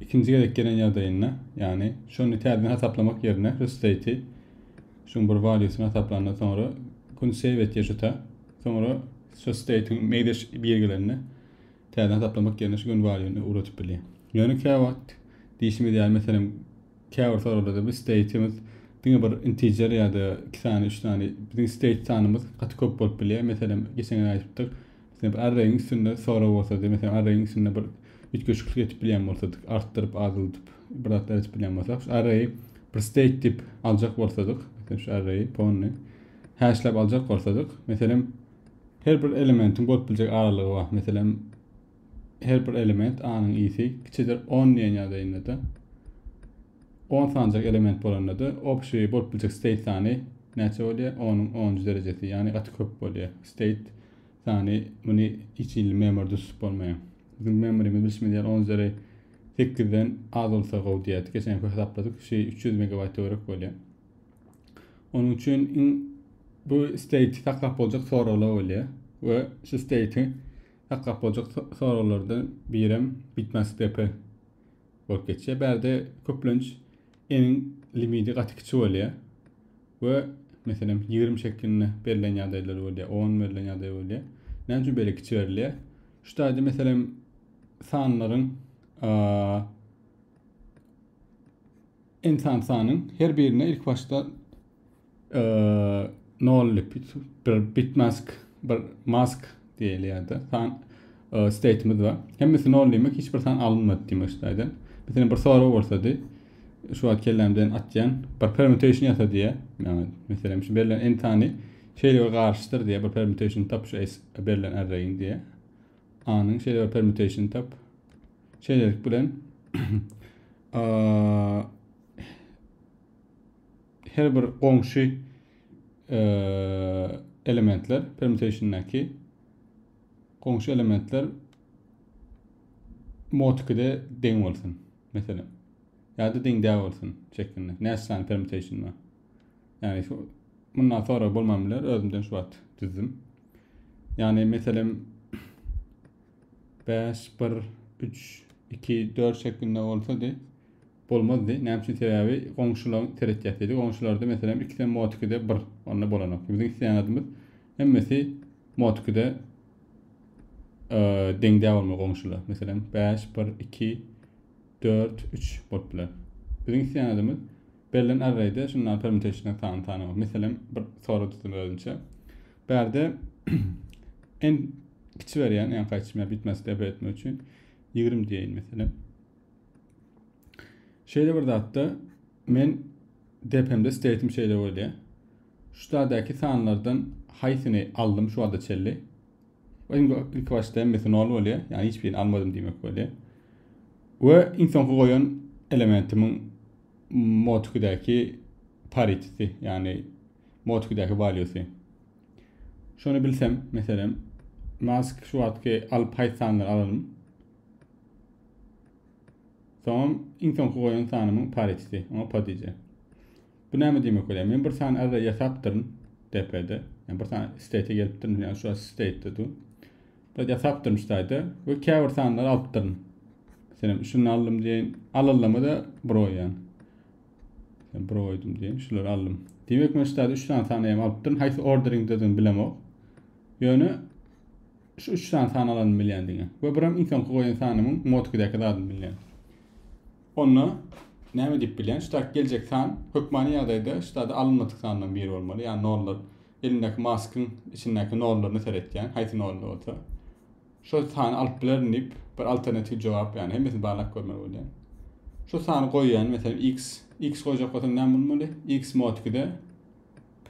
Ikinji gezek gelen ýagdaýynda, ýagny şony täzeden hasaplamak ýerine restati şuň bir valýusyny hasaplanda soňra kun save etýär şuta. Soňra şu state-iň meýdaş bir gelende täzeden hasaplamak ýerine şu gün valýuny ugradyp bilýär. Ýöne käwagt diýşimiz ýaly meselem käbir soraglarda biz state-imiz diňe bir integer ýa-da iki sany üç sany biziň state sanymyz gaty köp bolup bilýär. Meselem geçen gal aýdypdyk. Sebäbi arregiň üstünde sorag bolsa, diýmek, meselem, arregiň üstünde bir üýtgeşiklik edip bilýän bolsadyk, artdyryp, azaldyp, bir zatlar edip bilýän bolsak, şu arreyi bir state tip aljak bolsadyk, meselem, şu arreyi pony hashläp aljak bolsadyk, meselem, her bir elementiň bolup biljek aralygy bar. Meselem, her bir element A-nyň isi kiçidir 10 diýen ýagdaýynda-da 10 sanjak element bolanda-da obşi bolup biljek state sany näçe bolýar? 10-yň 10-njy derejesi, ýagny gaty köp bolýar. State sany muny hiç hili memoryda tutup bolmaýar. Biziň memorymyz bilşimiz ýaly on üzeri sekizden az bolsa gowy diýerdik. Geçen köp hasapladyk şu üç ýüz megabaýt töwerek bolýar. Onuň üçin iň bu state saklap boljak soraglar bolýar we şu state saklap boljak soraglardan birem bitmastp bolup geçýär. Bärde köplenç N-iň limiti gaty kiçi bolýar we meselem ýigrimi şeklinde berlen ýagdaýlar bolýar, on berlen ýagdaý bolýar. Näme üçin beýle kiçi berilýär? Şu taýda meselem sanlaryň n san sanyň her birine ilk başda nolly bir bitmask bir mask diýilýärdi san state'imiz bar hemmesi nollymy hiç bir san alynmady diýmek isledi mesela bir sorag bolsady şu wagt kellämden atýan bir permutation ýasa diýä ýa-da meselem şu berlen n sany şeýle bir garşydyr diýä bir permutation tap şu berlen arraýiň diýä anyň şeýle bir permutation tap şeýlelik bilen Her bir goňşy elementler, permutationdäki goňşy elementler mod 2-de deň bolsun. Meselem. Ýa-da deň däl bolsun şeklinde. Näçe sany permutation bar. Ýani şu mundan sonra bolman biler, özümden şu wagt düzdüm. Ýani meselem 5 1 3 2 4 şeklinde bolsady. bolmazdy. Näme üçin? Sebäbi goňşulaň seret ýatydy. Goňşularda meselem ikisem mod ikide bir. Onda bolanok. Biziň isleýän zadymyz hemmesi mod ikide deň däl bolmaly goňşular. Meselem 5, 1, 2, 4, 3 bolup biler. Biziň isleýän zadymyz berlen arrayde şundan permutationdan sany tanamak. Meselem bir soru tutdum özümçe. Bärde en kiçi berýän, ýa gaýçyma bitmesi dep etmek üçin 20 diýeýin meselem. Şeýle bir zatda men depemde steytim şeýle bolýar. Şu zadaki sanlardan haýsyny aldym şu wagta çelli? Öň ilk başda hemmesi nol bolýar, ýagny hiç birini almadym diýmek bolýar. We iň soňky goýan elementimiň mod 2-däki pariteti, ýagny mod 2-däki valuesy. Şony bilsem, meselem, mask şu wagtky alyp haýsy sanlary alalym? Soňam iň soňky goýan sanymyň pariteti, oňa podije. Bu näme diýmek bolýar? Men bir sany array ýasapdyryn DP-de. Ýani bir sany state gelipdirin, ýani şu state-de du. Bir ýasapdyryn şu taýda we käbir sanlary alypdyryn. Meselem, şuny aldym diýen, alallama da bir goýan. Sen bir goýdum diýen, şulary aldym. Diýmek, men şu taýda 3 sany sany hem alypdyryn. Haýsy orderingdedigini bilemok. Ýöne Şu üç sany san alandymy bilýän diňe. We biram iň soňky goýan sanymyň motkidäki zadyny bilýän. Onda näme diýip bilýän? Şu taýk geljek san hökmany ýagdaýda şu taýda alynmadyk sandan biri bolmaly. Ýa nollar. Elimdäki maskyň içindäki nollaryna seretýän, haýsy nolly bolsa. Şo sany alyp bilerin diýip bir alternatiw jogap ýany hemmesini barlap görmeli bolýan. Şu sany goýýan, meselem x, x goýjak bolsam näme bolmaly? x motkide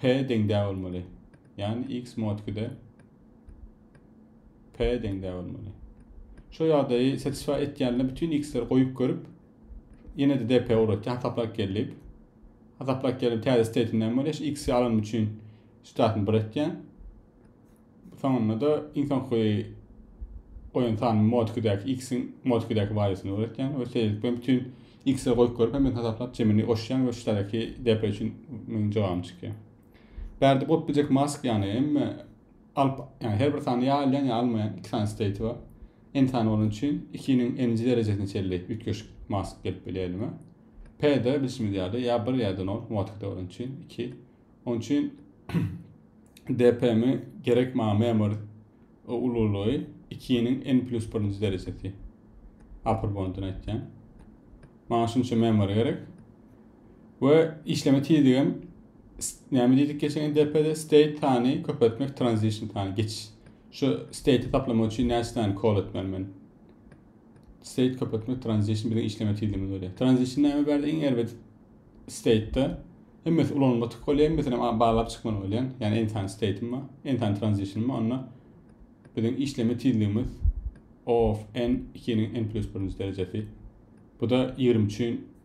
p deň dä bolmaly. Ýani x motkide P deň däbel muny. Şu ýagdaýy satisfy etýänler bütün x-leri goýup görüp ýene de dp ugrady hasaplap geldi. Hasaplap gelip täze state näme bolýar? X-i alan üçin statyny bir etýän. Soňunda da iň soňky goýan sany mod 2-däki x-iň mod 2-däki waliýasyny öwretýän we şeýlelik bilen bütün x-i goýup görüp hem hasaplap jemini goşýan we şu taýdaki dp üçin meniň jogabym çykýar. Bärde bolup biljek mask ýany emme alyp ýany her bir sany ýa alýan ýa almaýan iki sany state bar. N sany bolan üçin 2-niň n-nji derejesine çenli üýtgeşik mask gelip bilýär elime. P-de bilşimiz ýaly ýa 1 ýa-da 0 motkada bolan üçin 2. Onuň üçin DPM-i gerek maňa memory ululygy 2-niň n plus 1-nji derejesi. Upper bondun aýtýan. Maňa şunça memory gerek. we işleme tizligem näme diýdik geçen depede state sany köpeltmek transition sany geçiş şu state taplamak üçin näçe sany kol etmeli men state köpeltmek transition biziň işleme tizligimiz bolýar transition näme bärde iň erbet state-de hemmesi ulanylma tık bolýar hemmesini baglap çykmaly bolýan ýagny en tane state-im bar en tane transition bar onda biziň işleme tizligimiz of n 2-niň n plus 1-nji derejesi bu da 23-ün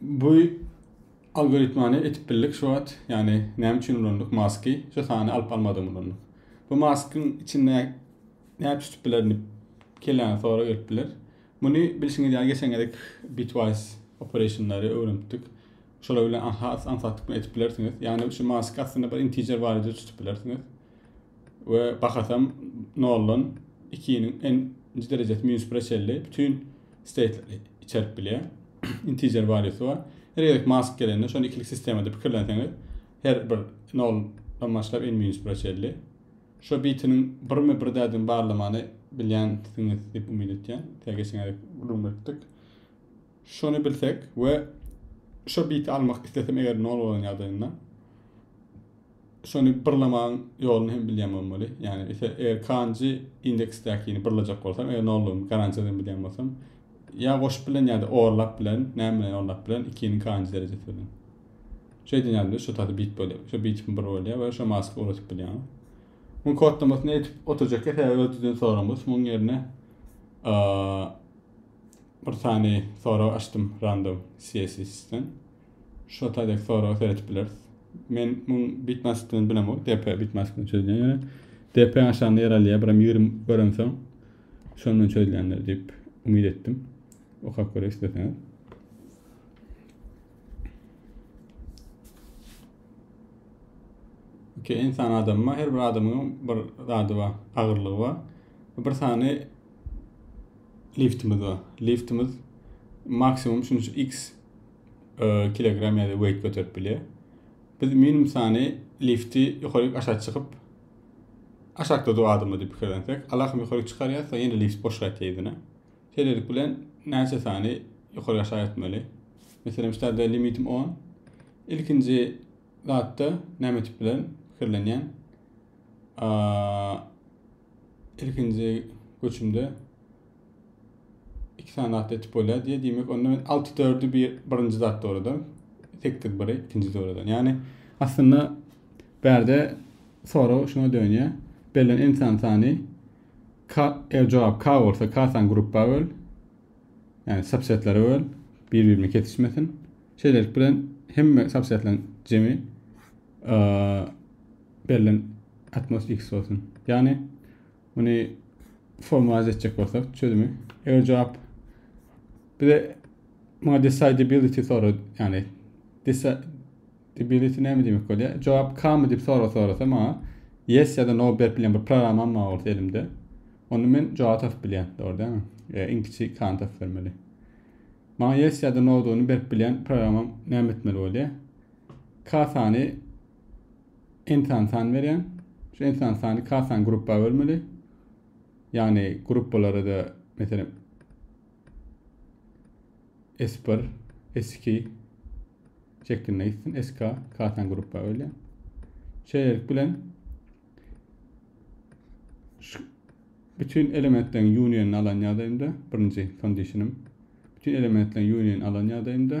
Bu algoritmany etip bildik şu wagt. Ýagny näme üçin ulandyk maski? Şu sany alyp almadym ulandyk. Bu maskyň içinde näme tutip bilerini kelläňe soru gelip biler. Muny bilşiňiz ýaly geçen gezek bitwise operationlary öwrenipdik. Şolar bilen has aňsatlyk bilen etip bilersiňiz. Ýagny şu mask aslynda bir integer barada tutip bilersiňiz. we bahasam noldan ikiniň en nji derejesi minus bire çenli bütün state'leri içerip bilýär. Integer value'si bar. Her gezek mask gelende şony ikilik sistemada pikirlenseňiz her bir noldan başlap en minus bire çenli. Şu bitiniň birmi bir dädini barlamany bilýänsiňiz diýip umyt etýän. Tä geçen gezek gürrüň beripdik. Şony bilsek we şu biti almak islesem eger nol bolan ýagdaýynda şony byrlamaň ýoluny hem bilýän bolmaly. Ýani ise eger kanji indeksdäkini byrlajak bolsam, eger nollugyny garantiýa edýän bilýän bolsam, ýa goşup bilen ýa-da orlap bilen, näme bilen orlap bilen ikiniň kanji derejesi bilen. Şeýdin ýaly şu taty bit bolýar. Şu bitipmi bir bolýar we şu maska uratyp bilýän. Muň kodlamasyny etip oturjak ýa sebäbi ödüden soraňyz. Muň ýerine bir sany sorag açdym random CSS-den. Şo taýdak soraga seredip bileris. Men muň bitmasykdygyny bilem ol. DP bitmasykdygyny çözýän ýöne. DP aşagynda ýer alýar, biram 20 göremsoň şony men çözýändir diýip umyt etdim. Okap görek isleseňiz. Ki insan adamma her bir adamyň bir zady bar, agyrlygy bar. Bir sany liftimiz bar. Liftimiz maksimum şunça x e, kilogram ýa-da weight göterip bilýär. Biz minimum sany lifti ýokaryk aşak çykyp aşakda dur adamlar diýip pikirlensek, alakym ýokaryk çykarýar, soň ýene lift boş gaýtýar ýüzüne. Şeýlelik bilen näçe sany ýokaryk aşak etmeli? Meselem, şu ýerde limitim 10. Ilkinji zatda näme etip bilen pikirlenýän? Ilkinji göçümde iki sany at etip bolýar diýe diýmek onda men alty dördü bir birinji zat dograda sekiz biri ikinji dogradan ýagny aslynda bärde sorag şuna dönýär bellen insan sany k e, jogap k bolsa k sany gruppa böl ýagny subsetlere böl bir birine kesişmesin şeýlelik bilen hemme subsetleriň jemi bellen atmos x bolsun ýagny Muny formalize etjek bolsak çözümi. Eger cevap bize muňa decidability sorar, yani decidability näme demek bolýar? Cevap kamy diýip sorag sorasa maňa yes ya da no berip bilen bir programmam bar bolsa elimde. Onda men cevap tapyp bilýän, dogry dälmi? E, iň kiçi kany tapyp bermeli. Maňa yes ya da no-duny berip bilen programmam näme etmeli bolýar? K sany Ensan sany berýän. Şu ensan sany kasan gruppa bölmeli. Ýagny gruppalara-da meselem S1, S2 şeklinde gitsin. SK kasan gruppa bölýär. Şeýlelik bilen şu bütün elementleriň unionini alan ýagdaýymda birinji kondisionim bütün elementleriň unionini alan ýagdaýymda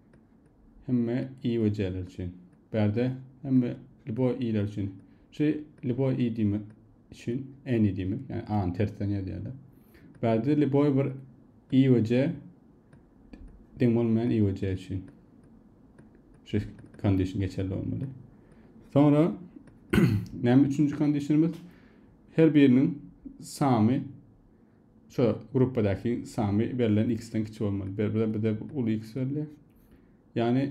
hemme i we c'ler üçin. Bärde hemme ljuboý i'ler üçin. Şu ljuboý i diýmek üçin any diýmek, ýagny a-ny tersden ýazýarlar. Bärde ljuboý bir i we c deň bolmaýan i we c üçin. Şu kondisiýa geçerli bolmaly. Soňra näme üçünji kondisiýamyz? Her biriniň samy Şu gruppadaky samy berlen x-den kiçi bolmaly. Ber bize bize uly x berilýär. Ýagny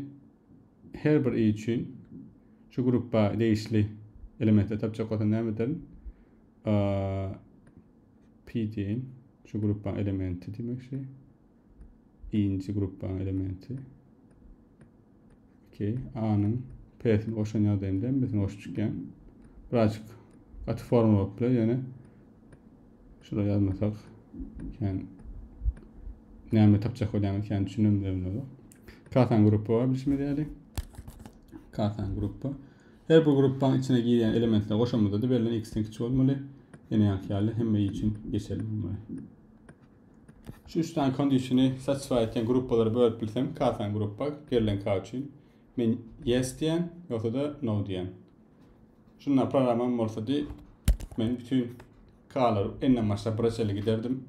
her bir i üçin şu gruppa degişli elementleri tapjak bolsa näme ederin? Pi diýen şu gruppaň elementi diýmek şey. I-nji gruppanyň elementi. Okey. A-nyň P-sini goşan ýagdaýynda M-sini goşup çykýan. Birazjyk gaty forma bolupdyr, ýöne şura ýazmasak kän näme tapjak bolýan kän düşünen bilemizok. Kasan gruppa bar bilşimiz ýaly. Kasan gruppa. Her bir gruppanyň içine girýän elementleri goşamyzda da berlen x-den kiçi bolmaly. Ýene ýanky ýaly hemme i üçin geçerli bolmaly. Şu üç tane kondisýony satisfy etýän gruppalara bölüp bilsem, kasan gruppa berlen ka üçin men yes diýen, ýogsa da no diýen. Şunda programam bolsa di men bütün k'alar enden başlap bire çenli giderdim.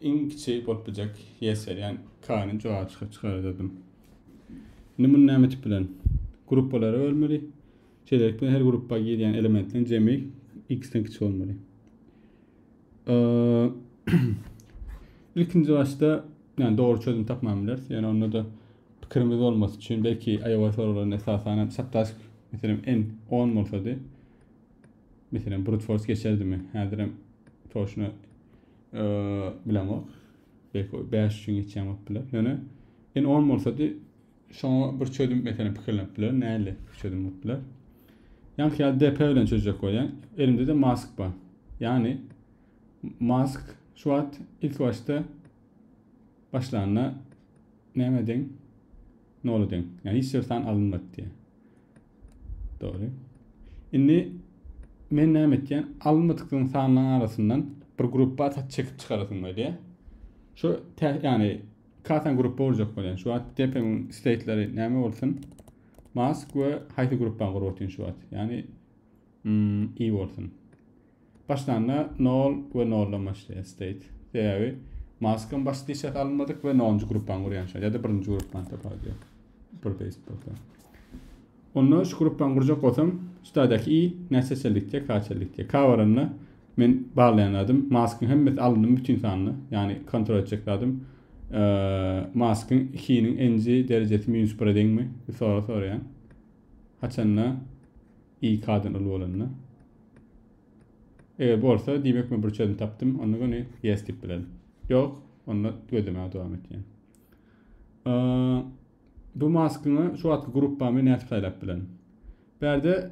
Iň kiçi bolup biljek yes berýän k'ny jogap çykyp çykarardym. Indi muny näme etip bilen? Gruppalara bölmeli. Şeýlelikde her gruppa girýän elementleriň jemi x-den kiçi bolmaly. Ilkinji başda, ýani dogry çözüm tapman bileris. Ýani onda-da pikirimiz bolmasy üçin belki aýawa soraglaryny esasanam saptask, meselem, en 10 bolsady. Meselem, brute force geçerdimi? Häzirem toşuna bilemok. Belki 5 üçin geçýän bolup biler. Ýöne en 10 bolsady Şoňa bir çözüm meselem pikirlenip bilerin, nähili bir çözüm bolup biler. Ýaňky ýaly DP bilen çözjek bolýan. Elimde-de mask bar. Ýagny mask şu wagt ilki başda başlanda näme deň? Nola deň. Ýagny hiç bir san alynmady diýýär. Dogry. Indi men näme etýän? Alynmadyklaryň sanlaryň arasyndan bir gruppa atat çekip çykarasym gelýär. Şu tä, ýagny Kasan gruppa urjak bolýan. Şu wagt depiň state'leri näme bolsun? Mask we haýsy gruppa gurup otýan şu wagt? Ýani mm, i bolsun. Başlanda 0 we 0 dan başlaýar state. Sebäbi Maskam baş dişek almadyk we 0-njy gruppan gurýan şu ýa-da 1-nji gruppan tapar diýär. Bir paste bolsa. Onda şu gruppan gurjak bolsam, şu taýdaky i näçe çellik diýär, kaç çellik diýär. K baranda Men baglaýan zadym Maskyň hemmesi alyndy bütin sanda ýagny kontrol etjek zadym Maskyň ikiniň nji derejesi minus bire deňmi bu sorag soraýan haçanda i k dan uly bolanda eger bolsa diýmek men bir çözüm tapdym onda göni yes diýip bilerin ýok onda gözlemäge dowam etýän bu maskyňa şu wagtky gruppamy nädip saýlap bilerin bärde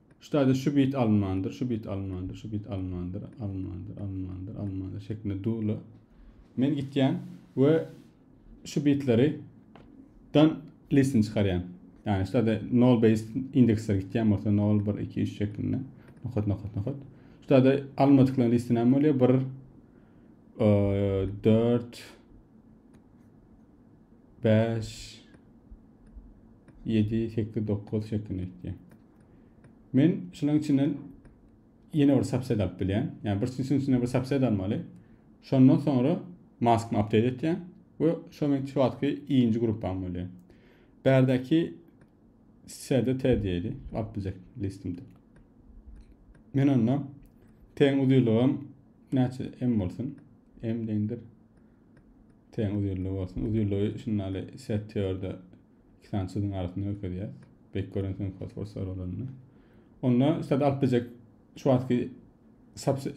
Şu taýda şu bit alynmandyr, şu bit alynmandyr, şu bit alynmandyr, alynmandyr, alynmandyr, alynmandyr şeklinde dula. Men gitýän we şu bitleri dan listini çykarýan. Ýani şu taýda nol based indeksler gitýän bolsa nol, bir, iki, üç şeklinde. Nokat, nokat, nokat. Şu taýda alynmadyklaryň listini hem bolýar. Bir, dört, beş, ýedi, sekiz, dokuz şeklinde gitýär. Men şunuň içinden ýene bir subset alyp bilýän. Ýani bir sesiň içinde bir subset almaly. Şondan soňra mask update etýän we şu men şu wagtky ikinji gruppam bolýar. Bärdäki serde T diýeli, alyp biljek listimde. Men onda T-iň uzynlygym näçe M bolsun? M deňdir. T-iň uzynlygy bolsun. Uzynlygy şundaly set teorda iki sany çyzygyň arasynda görkezýär. Bek görünsin fosfor sorulanda. Onda sad alyp biljek şu wagtky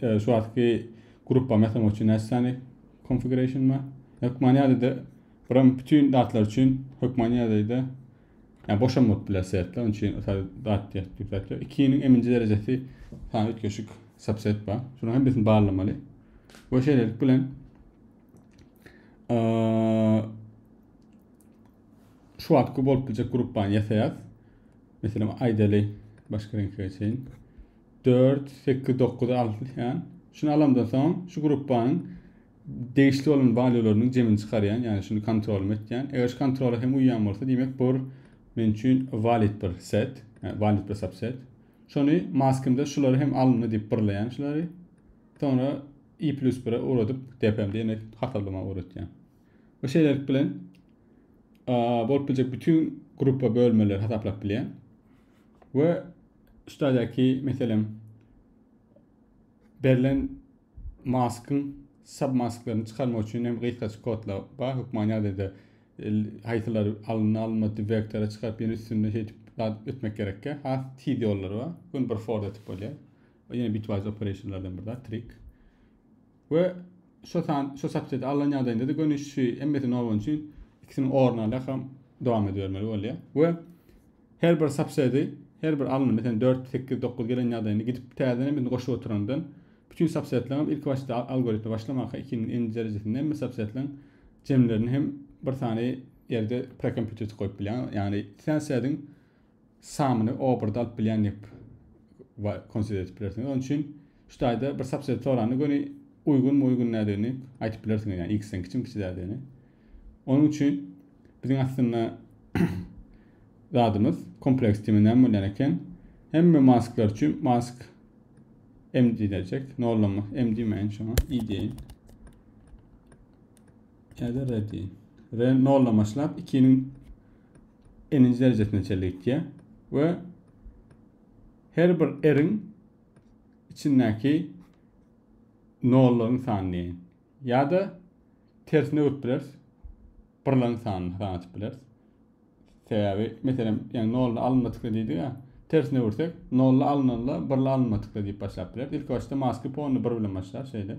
e, şu wagtky gruppa mesela üçin näçe sany configuration bar? Hökman ýadada buram bütün datlar üçin hökman ýadada yani boşam bolup biler setler. Onun için dat diýip 2-niň eminji derejesi sany üýtgeşik subset bar. Şunuň hem birini barlamaly. Bu şeýlelik bilen şu wagtky bolup biljek gruppany ýasaýas. Meselem, aýdaly, başga reňk geçeýin. 4, 8, 9 alýan. Şunu alamdan soň şu gruppanyň degişli bolan walyolarynyň jemini çykarýan, ýagny şunu kontrol etýän. Eger şu kontrola hem uýýan bolsa, diýmek bu men üçin valid bir set, ýagny valid bir subset. Şony maskymda şulary hem alyndy diýip birleýän şulary. Soňra i+1-e ugradyp, DPM-de ýene hasablama ugratýan. we şeýlelik bilen bolup biljek bütün gruppa bölmeleri hasaplap bilýän we üstadaki meselem berlen maskyn submasklaryny çykarmak üçin hem gysgaç kodlar bar hökman ýagdaýda haýsylar alyndy alynmady vektora çykaryp ýene üstünde şeýdip etmek gerekkä has tiz ýollary bar gün bir for etip bolýar ýene bitwise operationlardan bir zat trik We şo san şo subsedi alnan ýagdaýynda-da göni şu emmesi nol bolan üçin ikisiniň orny alýakam dowam edibermeli bolýar. We her bir subsedi her bir alnyp meselem dört sekiz dokuz gelen ýagdaýynda gidip täzeden emmesini goşup oturandan bütün subsedleriňem ilki başda algoritme başlamaka ikiniň nji derejesinde hemme subsedleriň jemlerini hem bir sany ýerde prekompýuterçi goýup bilýär. Ýagny sen sediň samyny obrda alyp bilýändik we konsider edip bilersiňiz. Onuň üçin şu taýda bir subset soranda göni uýgunmy uýgun näderini aýdyp bilersiňiz ýani x-den kiçimi kiçi dädini. Onuň üçin biziň aslynda zadymyz kompleks dime näme bolýan eken? Hemme masklar üçin mask m diýiljek. Nollama m diýmäýin şoňa i diýeýin. Ýa-da r diýeýin. R nollamaşlap 2-niň n-nji derejesine çenli gitýär we her bir r-iň içindäki nollaryň sany diýen. Ýa-da tersine öwrüp bileris. Birleriň sanyny hasaba atyp bileris. Sebäbi, meselem, ýa nolly alynma tükle diýdik ýa, tersine öwürsek, nolly alynanda birli alynma tükle diýip başlap bileris. Ilki başda maski pony bir bilen başlar, şeýle.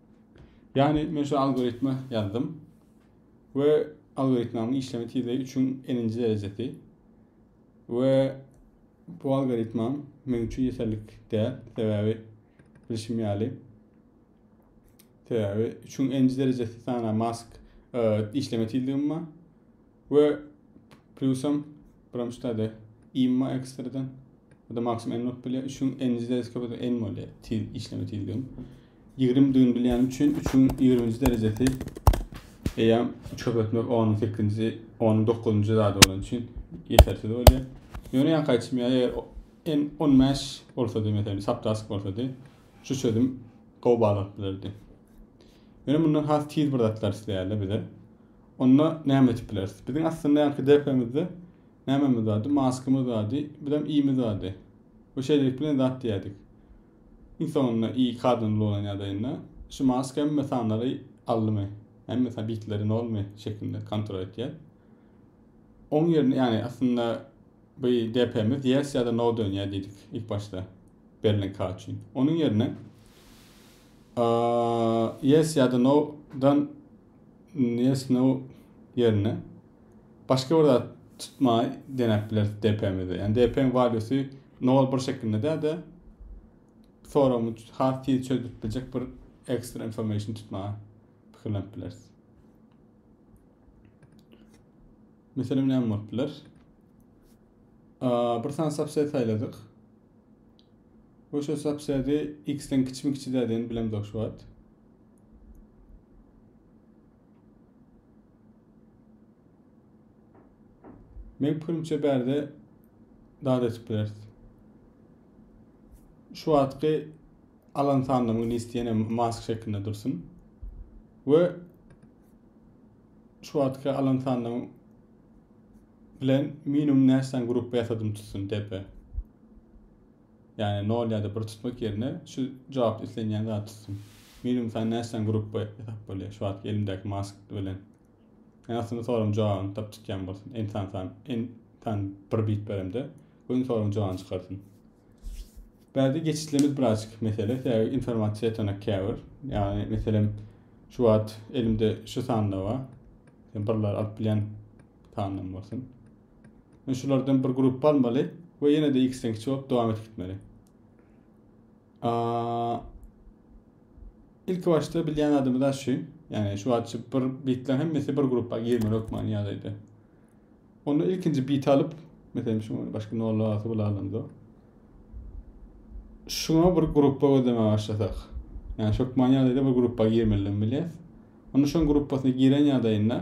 Ýagny men şu algoritmi ýazdym we algoritmanyň işleme tizligi 3-iň n-nji derejesi we bu algoritmam men üçin ýeterlik däl, sebäbi bilşim ýaly sebäbi 3-iň n-nji derejesi sana mask e, işleme tizligim bar. We plusam biramşy täze imma ekstradan. Bu da maksimum en bolup bilýär. Üçüň enji derejesi köpeden en bolýar. Tiz işleme tizligi. 20 düýn bilýän üçin üçüň 20-nji derejesi eýam 3 köpetmek 10-nyň 8-nji, 10-nyň 9-njy zady bolan üçin ýetersiz bolýar. Ýöne ýakaýçym ýa eger en 15 bolsady meselem saptask bolsady, şu çözüm gowy baglanyp bilerdi. Ýöne mundan has tiz bir zatlar isleýärler bize. Onda näme edip bileris? Biziň aslynda ýaňky depemizde nämemiz bardy? Maskamyz bardy, birem iýimiz bardy. Bu şeýlelik bilen zat diýýärdik. Iň soňunda iý kazanly bolan ýagdaýynda şu maska hemme sanlary aldymy? Hemme sa bitleri nolmy şeklinde kontrol etýär. Oň ýerine, ýagny aslynda bu depemiz ýers ýa-da no dönýär diýdik ilk başda berlen ka üçin. Onuň ýerine a ýers ýa-da no dan nesnow ýerine başga bir zat tutmaý denäp bileris DP-mize. Ýani DP-iň waliýusy nol bir şeklinde däl-de soragymy has tiz çözüp biljek bir ekstra information tutmaga pikirlenip bileris. Meselem näme bolup biler? bir sany subset saýladyk. Bu şu subseti x-den kiçimi kiçi dädeni bilemzok şu wagt. Men pikirimçe bärde dad etip bileris. Şu wagtky alan sandygymyň isteyene mask şeklinde dursun. Ve şu wagtky alan sandygym bilen minimum näçe sany gruppa ýasadym tutsun tepe. Ýagny nol ýa-da bir tutmak ýerine şu jogapda islenýän zady tutsun. Minimum sany näçeden grupba ýasap bolýar şu wagtky elimdäki mask bilen. Ýagny aslynda soragyň jogabyny tapyp çykýan bolsun. N sany san n san bir bit beremde goýuň soragyň jogabyny çykarsyn. Bärde geçişlemiz birazjyk mesele. Sebäbi informasiýa ýetanak käbir. Ýagny meselem şu wagt elimde şu sanda bar. Sen birler alyp bilýän sandan bolsun. Men şulardan bir gruppa almaly we ýene de x-den kiçi bolup dowam edip gitmeli. Ilki başda bilýän adamyz da şu. Ýani şu wagtça bir bitler hemmesi bir gruppa girmeli hökmany ýagdaýda. Onda ilkinji bit alyp, meselem şu başga nolla asy bulalanda. Şuna bir gruppa gözleme başlasak. Ýani şu hökmany ýagdaýda bir gruppa girmeli bilýär. Onda şoň gruppasyna giren ýagdaýynda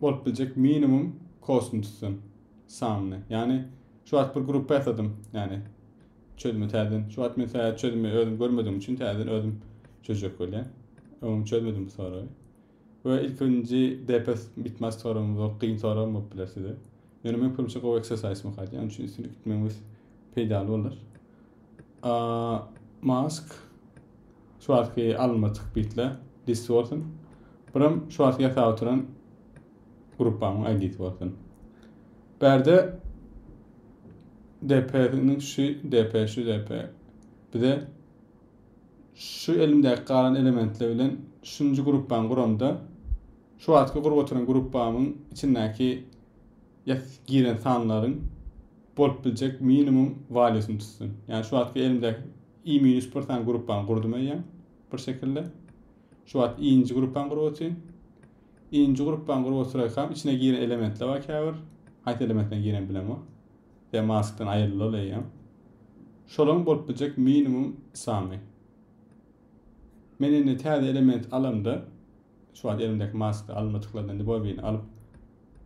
bolup biljek minimum kosmdusdan samny. Ýagny şu wagt bir gruppa ýasadym. Ýagny çözümi täzeden. Şu wagt men täze çözümi özüm görmedigim üçin täzeden özüm çözjek bolýan. Öňüm çözmedim bu soragy. Ve ilk birinci DPS bitmez soragym zor, kyn soragym bolup biler size. Ýöne men köpünçe gowy exercise makat. Ýa üçin üstünlik gitmemiz peýdaly bolar. Mask Şu wagtky alynma çykyp gitdile dissi bolsun. Buram şu wagtky ýasap oturan gruppamyň aýdisi bolsun. Bärde DP-niň şu DP şu DP bize şu elimdäki galan elementler bilen şunjy gruppany guramda şu wagtky gurup oturan gruppamyň içindäki ýas giren sanlaryň bolup biljek minimum walýusyny tutsun. Ýani şu wagtky elimdäki I minus bir sany gruppany gurdum eýýäm bir şekilde. Şu wagt I-nji gruppany gurup oturýn. I-nji gruppany gurup oturaýkam içine giren elementler bar käbir. Haýsy elementden giren bilemok. Sebäbi maskdan aýrylaly eýýäm. Şolaryň bolup biljek minimum sany. Men indi täze element alamda şu wagt elimdäki maskda almadyklarydan indi bobini alyp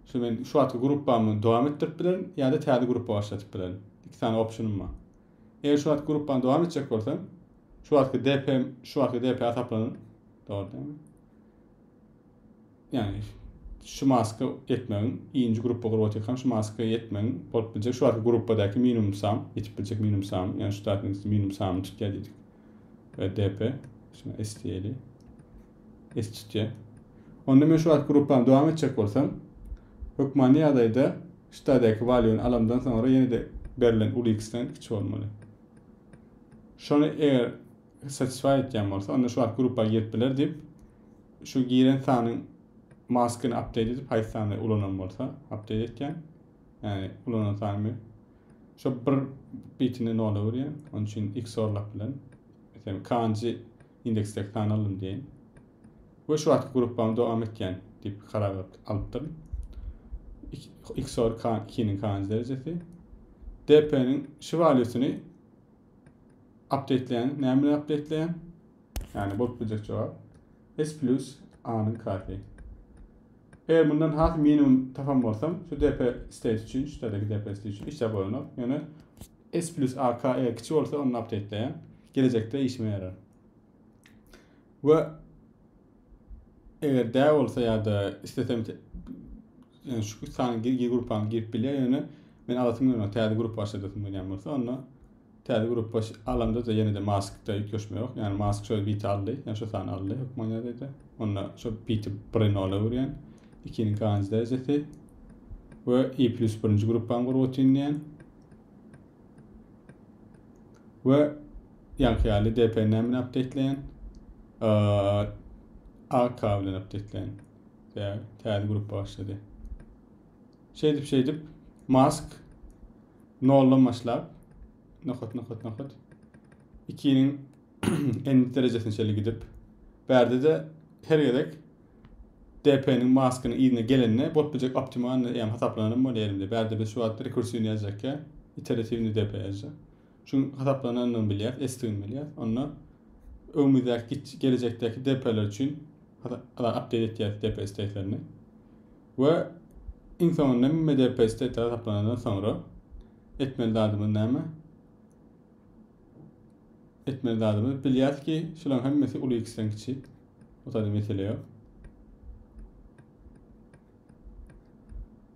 şu men şu wagtky gruppamy dowam etdirip bilerin ýa-da täze gruppa başladyp bilerin. Iki sany optionym bar. Eger şu wagt gruppany dowam etjek bolsam, şu wagtky DP şu wagtky DP hasaplanan. Dogry dämi? Yani şu maska etmegiň, ikinci gruppa gurbat etmem şu maska etmegiň bolup biljek şu wagtky gruppadaki minimum sam, etip biljek minimum sam, yani şu tarafın minimum sam çıkýar diýdik. DP, şuna STL. Eşitjek. Onda men şu wagt gruppamy dowam etjek bolsam, hökmany ýagdaýda ştadäki valuýny alamdan soňra ýene-de berlen uly x-den kiçi bolmaly. Şony eger satisfy etýän bolsa, onda şu wagt gruppa girip biler diýip, şu giren sanyň maskyny update edip, haýsy sany ulanan bolsa, update etýän. Ýani ulanan sanymy şu bir bitini nola görýän. Onuň üçin x orlap bilen. Meselem, kanji indeksdäki sany aldym diýen. Ve şu wagtky gruppamy dowam etýän diýip karar alypdyryn. XOR 2-niň kanji derejesi. DP-niň şu valýusyny update'leýän, näme bilen update'leýän? Ýagny bolup biljek jogap S plus A-nyň kasy. Eger mundan has minimum tapan bolsam, şu DP state üçin, şu terdeki DP state üçin işläp bolanok. Ýöne S plus A K E kiçi bolsa onda apdeytleýän. Gelejekde işime ýarar. We eger dä bolsa ýa-da istesem yani şu sany gir gruppany girip bilýär ýöne men alasym gelmez täze grup başladasym gelýän bolsa onda täze grup baş alamda da ýene-de maskda ýüklüşme ýok. Yani mask şöyle biti aldy. Yani şu sany aldy. Hukman ýadayda. Onda şu biti birini ola görýän. İkinin kanji derecesi. Ve i plus birinci gruppan gurgutin diýen. we ýaňky ýaly dpn bilen apdeýtleýän ak bilen apdeýtleýän täze grup başlady şeýdip şeýdip mask noldan başlap nokat nokat nokat ikiniň en derejesine çeli gidip bärde de her gezek DP-niň Maskynyň yzyna gelende bolup biljek optimalnyý ýam hasaplanan hem bolýar elimde. Bärde biz şu wagt rekursiwnyý ýazjak ýa iteratiwnyý DP ýazjak. Şuň hasaplanandygyny bilýäs, esdigini bilýäs. Onda öňümizdäki git gelejekdäki DP-ler üçin ala update etýäs DP stetlerini. We iň soňunda hemme DP stetleri hasaplanandan soňra etmeli zadymyz näme? Etmeli zadymyz bilýäs ki, şularyň hemmesi uly x-den kiçi. O taýda mesele ýok.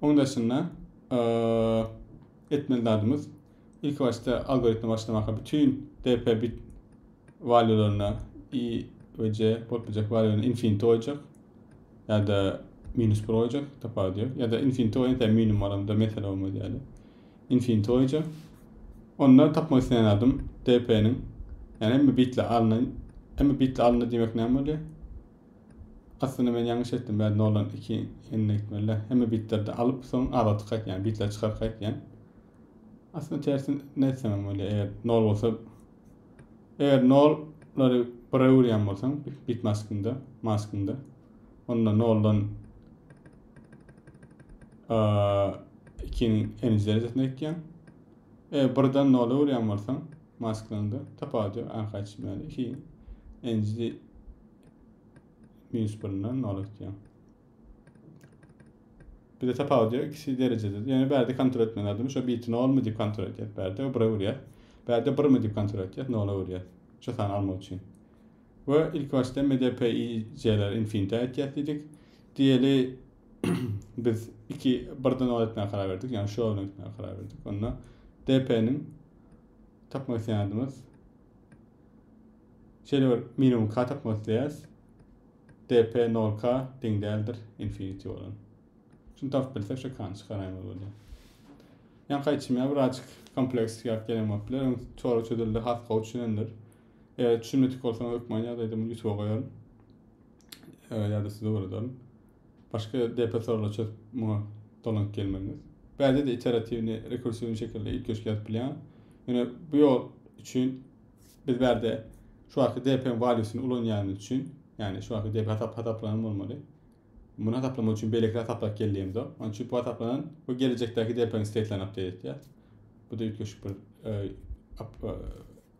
Oň daşynda etmeli zadymyz ilk başda algoritmi başlamaka bütün DP bit valuelerine i we c bolup biljek valuelerine infinity goýjak ya da minus bir goýjak tapawudy ýok ya da infinity goýan tä minimum bolanda mesele bolmaz ýaly. Infinitoýja. Onda tapmak isleýän zadym DP-niň ýa hemme bitler alyndy. Hemme bitler alyndy diýmek näme bolýar? Aslynda men ýalňyş etdim. Bäri noldan 2 ýene gitmeli. Hemme bitlerdi alyp, soň azaltyp gaýtýan, bitleri çykaryp gaýtýan. Aslynda tersini etsem hem bolýar. Eger nol bolsa, eger nollary bire öwürýän bolsaň, bit maskynda, maskynda, onda noldan 2 M derejesine gitýän. E, birden nola urýan bolsaň, masklanda tapawut ýok, arka çyzmäli. 2 nji minus 1-den nola gitýän. Bir de tapawut ýok, ikisi derejede. Ýöne bärde kontrol etmän adam şu biti nolmy diýip kontrol edýär. Bärde bire urýar. Bärde birmi diýip kontrol edýär, nola urýar. Şu sany almak üçin. We ilki başda MDPIC-ler infinityä etýäs diýdik. Diýeli biz iki birden ol etmäge karar berdik. Ýagny şu ýola gitmäge karar berdik. Onda DP-niň tapmak isleýänimiz şeýle bir minimum k tapmak isleýäs. DP 0k deň däldir infinity bolan. Şunu tapyp bilsek şu k-ny çykaraýmaz bolýar. Ýaňky aýtşym ýaly birazjyk kompleks ýaly gelen bolup biler. Çora çözüldi, has gowy düşünendir. Eger düşünmedik bolsaň hökman ýaz aýdymyny YouTube goýaryn. Ýa-da size öwrederin. Başga DP soralar çözüp muňa dolanyp gelmeliňiz. Bäde de iteratiwni, rekursiwni şekilde üýtgeşik ýazyp bilýän. Ýöne bu ýol üçin biz bärde şu wagtky DP-niň valýusyny ulanýanymyz üçin, ýagny şu wagtky DP hasap hasaplanan bolmaly. Muny hasaplamak üçin beýleki hasaplap gelýämiz o. Onuň üçin bu hasaplanan we gelejekdäki DP-niň state'lerini update etýär. Bu da üýtgeşik bir e,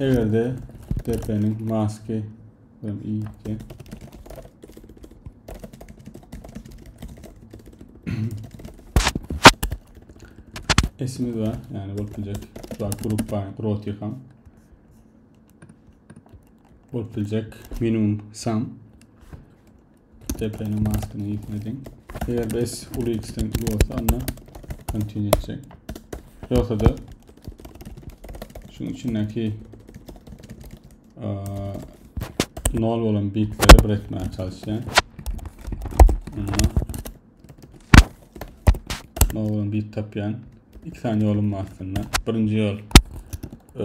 Egerde depeniň maske bilen iýipdi. Esimiz var, yani bolup biljek şular gruppa roti ham. Bolup biljek minimum sam Depeniň maskyny ýitme diň. Eger bes uly x-den uly bolsa, onda continue etjek. Yoksa da şunun içindeki nol bolan bitleri bir etmeye çalışacağım. Ondan nol bolan bit tapyan. İki tane yolum var aslında. Birinci yol ee,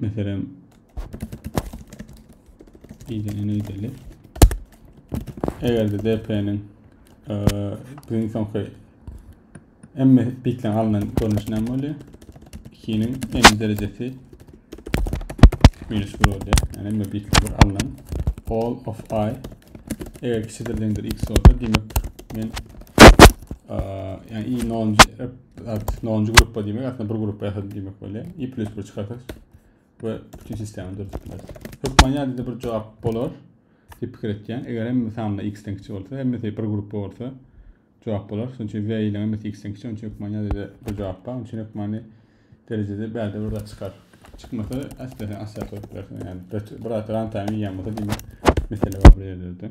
Meselem, idene neydeli? Eger de DP'nin e, biziň soňky emme bitlen alynan görnüşi näme bolýar? 2-niň n derejesi minus 1 bolýar. Yani emme bitlen bir alynan all of i eger kiçidir deňdir x bolsa demek men e, yani i 0 At, nonuncu gruppa diýmek, aslında bir gruppa ýasadyk diýmek bolýar. I plus bir çykarsak we bütün sistemi döretip bileris. Hökman ýa-da bir jogap bolar diýip pikir etýän. Eger hemme sanlar x-den kiçi bolsa, hemmesi bir gruppa bolsa jogap bolar. Şonuň üçin v ile hemmesi x-den kiçi, onçun hökman ýa-da bir jogap bar. Onçun hökmany derejede bärde bir zat çykar. Çykmasa äsli asla sorup bilersiň. Yani bir bir runtime ýan bolsa diýmek mesele bar bir ýerde.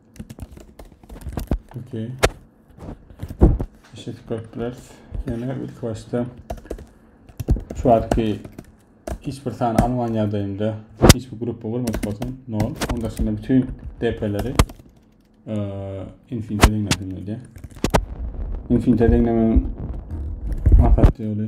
Okey. Teşekkür köpler. Yine ilk başta şu wagtky hiç bir sany alman ýagdaýymda hiç bir gruppa bolmadyk bolsam, nol. Onda şimdi bütün DP'leri e, infinite deňledim öyle. Infinite deňlemenin maksatly ýoly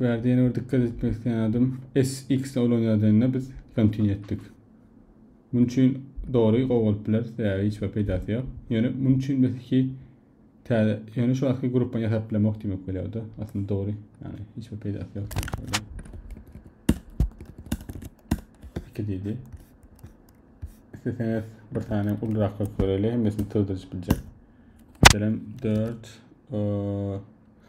Bu ýerde ýene bir dikkat etmek isleýän adam SX ulan ýagdaýynda biz continue etdik. Muň üçin dogry gowy bolup biler, sebäbi hiç bir peýdasy ýok. Ýöne muň üçin biz iki täze, ýöne şu wagtky gruppany ýasap bilemok diýmek bolýardy. Aslynda dogry, ýani hiç bir peýdasy ýok. Iki diýdi. İsteseňiz bir tane ulurak göreli, hemmesini sığdırıp biljek. Mesela 4,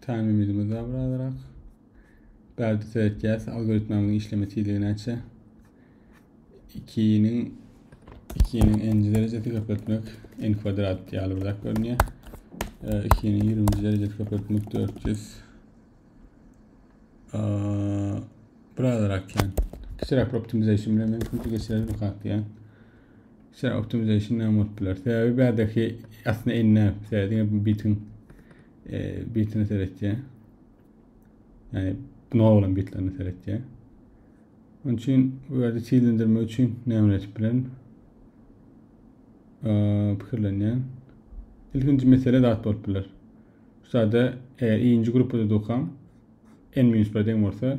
Tämimizimiz daha bir azarak. Bärde seretýäs algoritmamyň işleme tizligi näçe. 2-niň 2-niň n-nji derejesi köpeltmek n kwadrat ýaly bir zat görünýär. 2-niň 20-nji derejesi köpeltmek 400 bir azarak ýan. Kiçiräk bir optimization bilen mümkin geçirelim hakýan. Sen optimization näme bolup biler? Sebäbi bädeki aslynda enne sebäbi bitin e, bitini seretýär. Yani buna olan bitlerini seretýär. Onun için bu yerde çizildirmek için ne öğretip bilen fikirlenýän. İlkinci mesele zat bolup biler. Şu sada eger ikinci grupda dokam en minus 1 deň bolsa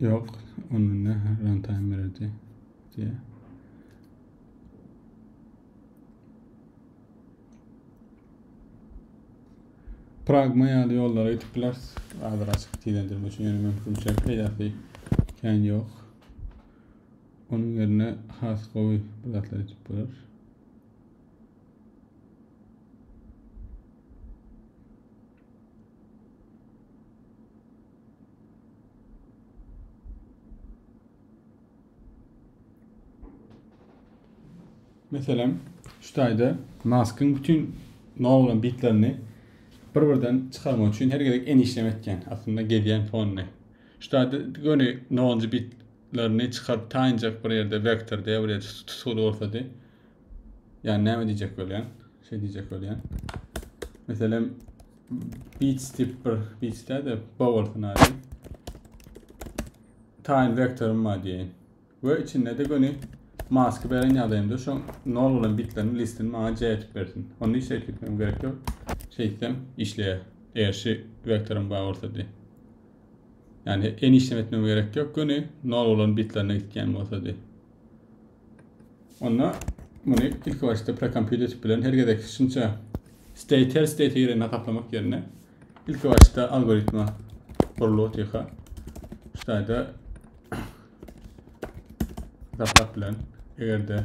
Yok, onda ne runtime beredi diye. Pragma ýaly ýollara gidip bileris. Azra açyk tilendirmek üçin ýöne mümkinçilik peýdasy kän ýok. Onuň ýerine has gowy bir zatlar edip biler. Meselem, şu taýda maskyň bütün nol bitlerini bir-birden çykarmak üçin her gezek en işlem etken. Aslında gezýän fonny. Şu taýda göni nol bitlerini çykaryp taýynjak bir ýerde vektor diýip bir ýerde tutguly bolsady. Yani näme diyecek bolýan? Şey diyecek bolýan. Meselem beat step bir beat step de bowlsun hadi. Time vektorum var diýen. Ve içinde de göni maskı beren ýagdaýymda şu nol bilen bitlerin listini maňa C etip bersin. Onu hiç zerk etmem gerek yok. Şey etsem işleýär. Eger şu vektorum bar bolsa diýen. Yani en işlem etmem gerek yok. Göni nol bilen bitlerine gitgen bolsa diýen. Onda muny ilki başda prekompýuter bilen her gezek şunça state her state ýerine gaplamak ýerine ilki başda algoritma gurlup otyka. Şuýda gaplap bilen egerde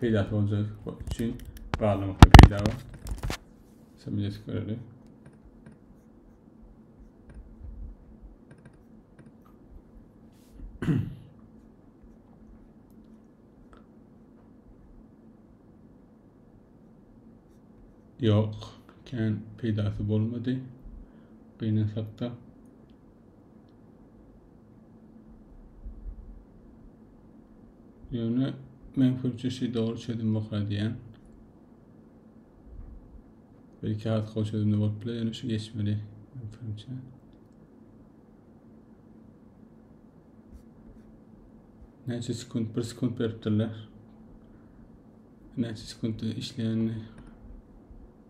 peýdasy boljagy üçin gazlamakda peýda bar. Şeýle geçip göreli. Yok, kän peýdasy bolmady. Gynansak-da. Ýöne men köpçe şey dogry çözüm bokar diýen. Belki az kow çözümde bolup bile ýöne şu geçmeli. Köpçe. Näçe sekund, bir sekund beripdirler. Näçe sekund işleýänini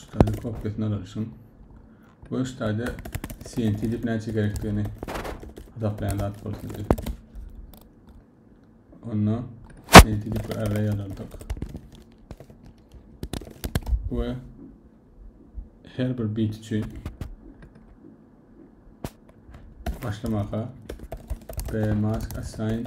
Ştaýly kopýasyny alyşyn. Bu ştaýda CNC dip näçe gerekdigini hesaplaýan zat bol sizde. Onda CNC dip bir array alardyk. Ve her bir bit üçin başlamaka B mask assign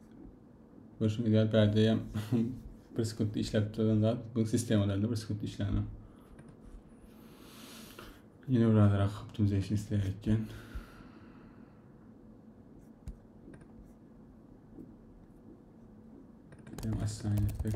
Görüşüňiz ýaly bäde bir sekunt işläp duran zat bu sistemalarda bir sekunt işlänok. Ýene bir azrak optimization isleýär eken. Hem assign etdik.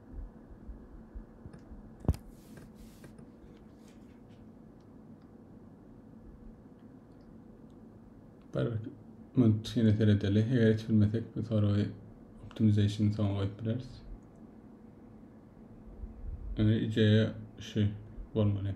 Bir minut şeýle seredeli. Eger hiç bilmesek, bu soragy optimization soňa goýup bileris. Indi ideýa şu bolmaly.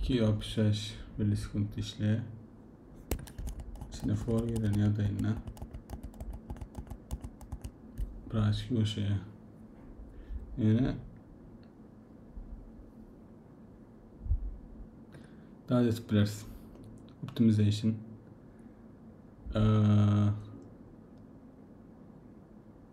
266 millisekund işleýär. Içine for gelen ýagdaýynda biraz ýumşaýar. Ýöne daha da etip bileris. Optimization. Ee,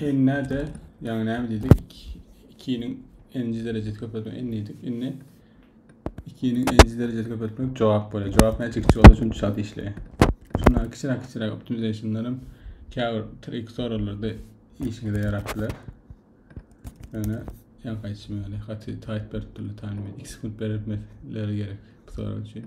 N näde? Ýaňy näme diýdik? 2-niň n-nji derejesi köpeltmek n diýdik. Indi 2-niň n-nji derejesi köpeltmek jogap bolýar. Jogap näçe kiçi bolsa şonça çalt işleýär. Şundan kiçiräk kiçiräk optimizationlar hem käbir trik soraglarda işiňize ýarap biler. Ýöne ýaňky aýdyşym ýaly gaty taýt berip durlar taýmy. 2 sekunt beripmesleri gerek bu sorag üçin.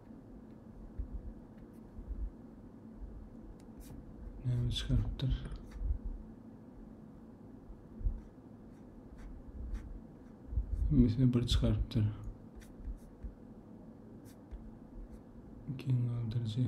Näme çykarypdyr? Mesela bir çykarypdyr. Kim aldyrycı?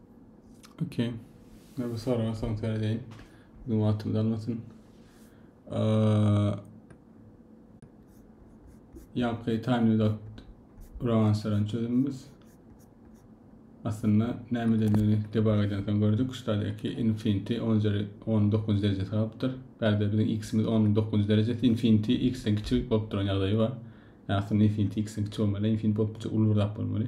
Okey. Ne bu soraga soň seredeýin. Bizim wagtymyzy almasyn. Ýapgy taýmydat uragançlaryň çözümimiz. Aslynda näme diýileni debug eden soň gördük. Şurada eki infinity 10 üzeri 19 derejesi galypdyr. Bärde biziň x-imiz 19 derejesi infinity x-den kiçi bolup duran ýagdaýy bar. Ýa aslynda infinity x-den kiçi bolmaly, infinity bolup uly bir zat bolmaly.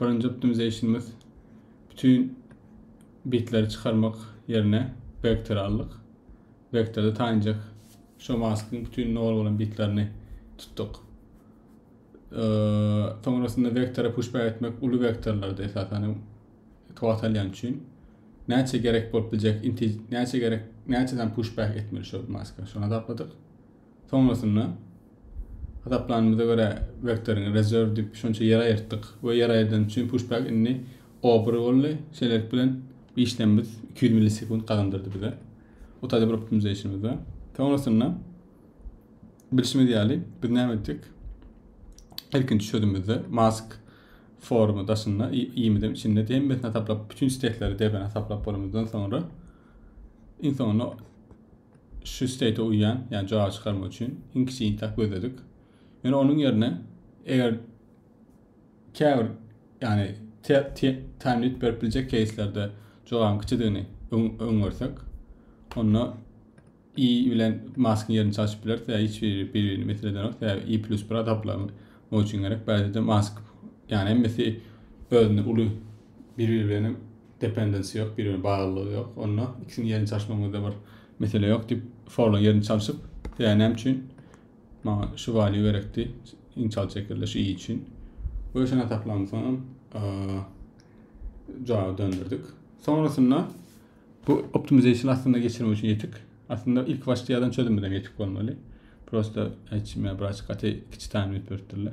Birinji optimizationymyz bütün bitleri çykarmak yerine vektor aldyk. Vektorda tanjak şu maskyň bütün nol bolan bitlerini tutduk. Ee, soňrasynda vektora pushback etmek uly vektorlarda esasan tuwat alýan üçin näçe gerek bolup biljek näçe gerek näçe dan pushback etmeli şu maska şony tapladyk. Soňasynda, hasaplanymyza görä, wektoryň rezerw diýip şonça ýer aýyrtdyk we ýer aýyrdan üçin pushback indi obry boldy. Şeýlelik bilen işlemimiz iki ýüz millisekunt gazandyrdy bize otady bir optimization-imizde. Soňasynda, bilşimiz ýaly, biz näme etdik? Ilkinji çözümimizde mask formy daşynda, i-imizem içinde hemmesini hasaplap, bütin stekleri, DB-ni hasaplap bolanymyzdan soňra, iň soňunda Şu state uýýan, ýagny jogap çykarmak üçin iň kiçi intag gözledik. Ýöne onuň ýerine eger käbir ýagny time limit berip biljek caselerde jogabyň kiçidigini öňersek, onda i bilen maskyň ýerini çalşyp bileris we hiç biri bir-birini mesele edenok. Sebäbi i plus bir adaptlamak üçin gerek. Bäzide mask ýagny hemmesi özünde uly biri bilen dependensi ýok, biri bilen baglylygy ýok. Onda ikisini ýerini çalyşmagyňyzda bir mesele ýok diýip, forla ýerini çalyşyp, ýa näme üçin maňa şu value gerekdi, iň çal çekirde şu i üçin. Bu üçin ataklanan soňam jawaby döndürdik. Sonrasynda bu optimization aslında geçirmek üçin ýetik. Aslında ilk başda ýazan çözüm bilen ýetik bolmaly. Prosta hiç me braç gaty kiçi taýyn edip beripdirler.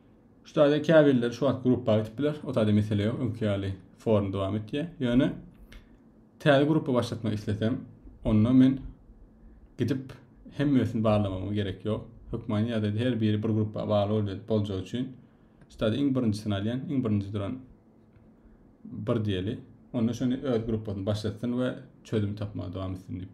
Şu taýda käbirleri şu wagt gruppa gidip biler. O taýda mesele ýok. Öňki ýaly forum dowam etýär. Ýöne täze gruppa başlatmak islesem, onda men gidip hemmesini barlamama gerek ýok. Hökmany ýagdaýda her biri bir gruppa bagly bolýar boljagy üçin. Şu taýda iň birinjisini alýan, iň birinji duran bir diýeli. Onda şony öz gruppasyny başlatsyn we çözüm tapmaga dowam etsin diýip.